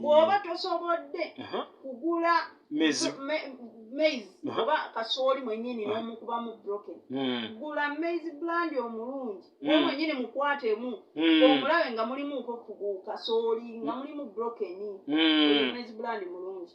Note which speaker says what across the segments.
Speaker 1: bwoba tosobodde kugula maize oba kasooli mwenyini nomukuba mu broken hmm. gula maize blandi omulungi hmm. o mwenyini mukwatemu hmm. omulabe nga mulimu kasooli nga mulimu broken maize blandi mulungi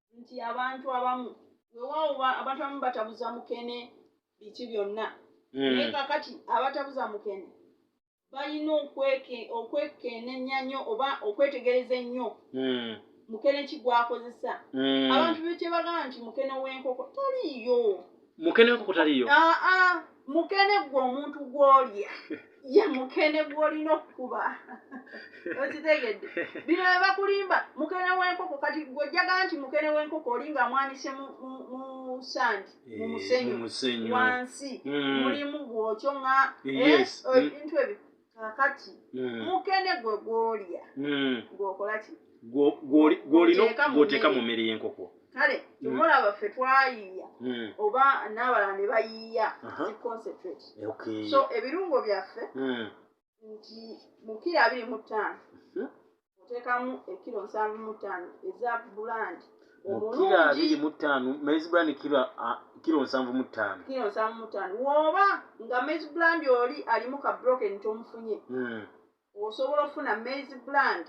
Speaker 1: nti abantu abamu wewaawo abantu abamu batabuza mukene biki byonna hmm. naye kakati abatabuza mukene balina okwekenenya nnyo oba okwetegereza ennyo hmm. mukene ki gwakozesa hmm. abantu bekyebagamba nti mukene w'enkoko taliiyo mukene wenkoko
Speaker 2: taliyo aa ah, ah, mukene
Speaker 1: gwe omuntu gwolya ye mukene gwolina okukuba okitegedde bino bebakulimba mukene wenkoko kati gwojjaga nti mukene wenkoko oli nga amwanise musandi mumusenyu eh, wansi hmm. mulimu gwokyo nga eh, ebintu ebyo kakati mm. mukene gwe gwolya mm. gwokola ki gwolina
Speaker 2: mu mmere y'enkoko kale tumola
Speaker 1: mm. baffe twayiiya mm. oba n'abalala ne bayiiya ziconcentrate so ebirungo byaffe mm. nti mukira abiri mu ttaano mm-hmm. oteekamu ekiro nsanvu mu ttaano eza bulandi mukira abiri
Speaker 2: mu ttaano maize brand kiro kiro nsanvu mu ttaano kiro nsanvu mu ttaano woba
Speaker 1: nga maize brand oli alimu ka broken tomufunye hmm. osobola okufuna maize brand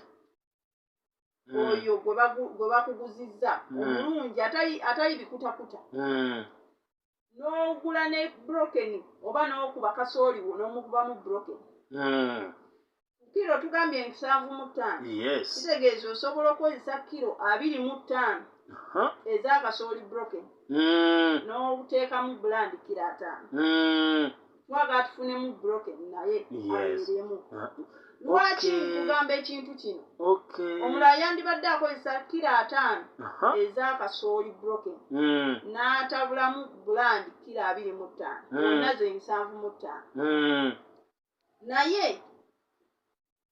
Speaker 1: hmm. oyo gwe bakuguzizza hmm. omulungi atayi bikutakuta n'ogula ne broken oba n'okuba kasooli wo n'omukubamu broken hmm. kiro tugambye nsanvu mu ttaano kitegeeza osobola okukozesa kiro abiri mu ttaano eza kasooli broken hmm. n'oteekamu bulandi kiro ataano hmm. twagala tufunemu broken naye abeeremu lwaki nkugamba ekintu kino omulala yandibadde akozesa kira ataano ezakasooli broken hmm. n'atabulamu buland kira abiri mu ttaano hmm. onaze ensanvu mu ttaano hmm. naye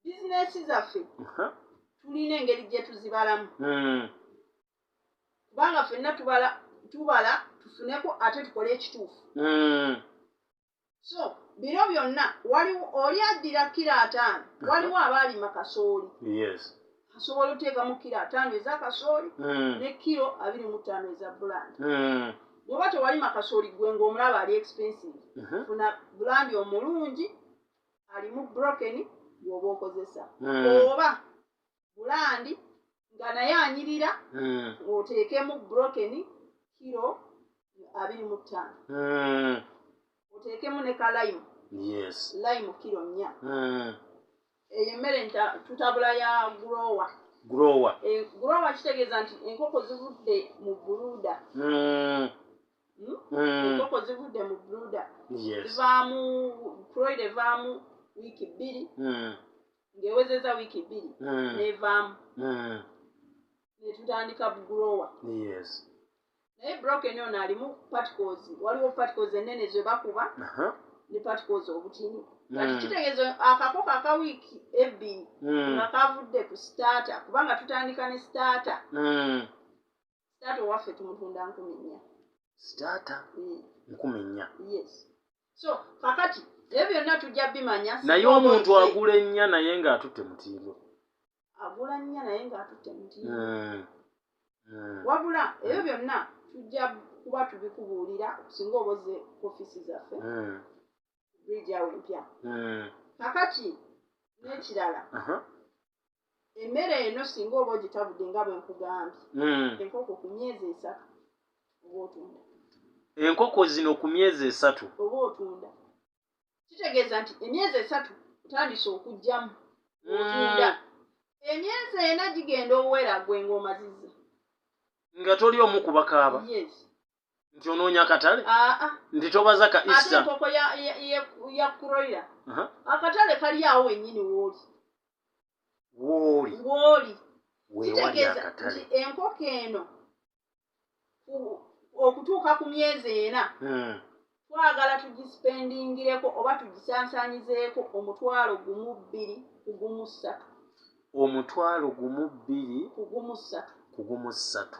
Speaker 1: bizinesi zaffe tulina engeri gye tuzibalamu hmm. kubanga fenna tubala tubala tufuneko ate tukole ekituufu hmm. so bino byonna waliwo oli addira kira ataano waliwo abaalima kasooli asobola oteekamu kiro ataano eza kasooli hmm. ne kiro abiri mu ttaano eza bulandi bwoba tewalima kasooli gwe ngaomulaba ali expensive funa bulandi omulungi alimu broken gwoba okozesa hmm. oba bulandi nga naye anyirira hmm. oteekemu broken kiro abiri mu ttaano hmm. oteekemu ne kalayimu layimu kiro nnya eyo emmere tutabula ya growa growa eh, growa kitegeeza nti enkoko zivudde mu buluda Hmm? Hmm. enkoko zivudde mu bruda zivaamu proid evaamu wiiki bbiri hmm. ng'ewezeza wiiki bbiri nevaamu netutandika bugrowa naye broken ono alimu particles waliwo particles ennene ze bakuba uh-huh. ne particles obutini kati kitegeeza akakoko aka wiiki ebbiri nga kavudde ku starter kubanga tutandika ne starter sitaata owaffe tumutunda nkumi nnya sitaata mm. nkumi nnya yes so kakati ebyo byonna tujja bimanya naye omuntu
Speaker 2: agula ennya naye ng'atutte mutindo agula nnya naye ng'atutte mutindo
Speaker 1: mm. mm. wabula ebyo byonna tujja kuba tubikubuulira singa oboze ofiisi zaffe bridge awo empya hmm. kakati n'ekirala emmere eno singa oba ogitabudde nga bwe nkugambye hmm. enkoko ku myezi esatu oba otunda enkoko zino
Speaker 2: ku myezi
Speaker 1: esatu
Speaker 2: oba
Speaker 1: otunda
Speaker 2: kitegeeza
Speaker 1: nti
Speaker 2: emyezi esatu
Speaker 1: otandise okugyamu hmm. otunda emyezi ena gigenda owera gwe ng'omazizza nga
Speaker 2: toli omu kubakaaba
Speaker 1: nti onoonya
Speaker 2: akatale ah, ah. nti tobaza ka ate enkoko
Speaker 1: ya kuroira akatale kali awo wenyini wooli wooli wooli kitegeeza nti enkoko eno okutuuka ku myezi ena hmm. twagala tugisipendingireko oba tugisansanyizeeko omutwalo gumu bbiri kugumu ssatu omutwalo
Speaker 2: gumu bbiri
Speaker 1: kugumu ssatu
Speaker 2: kugumu ssatu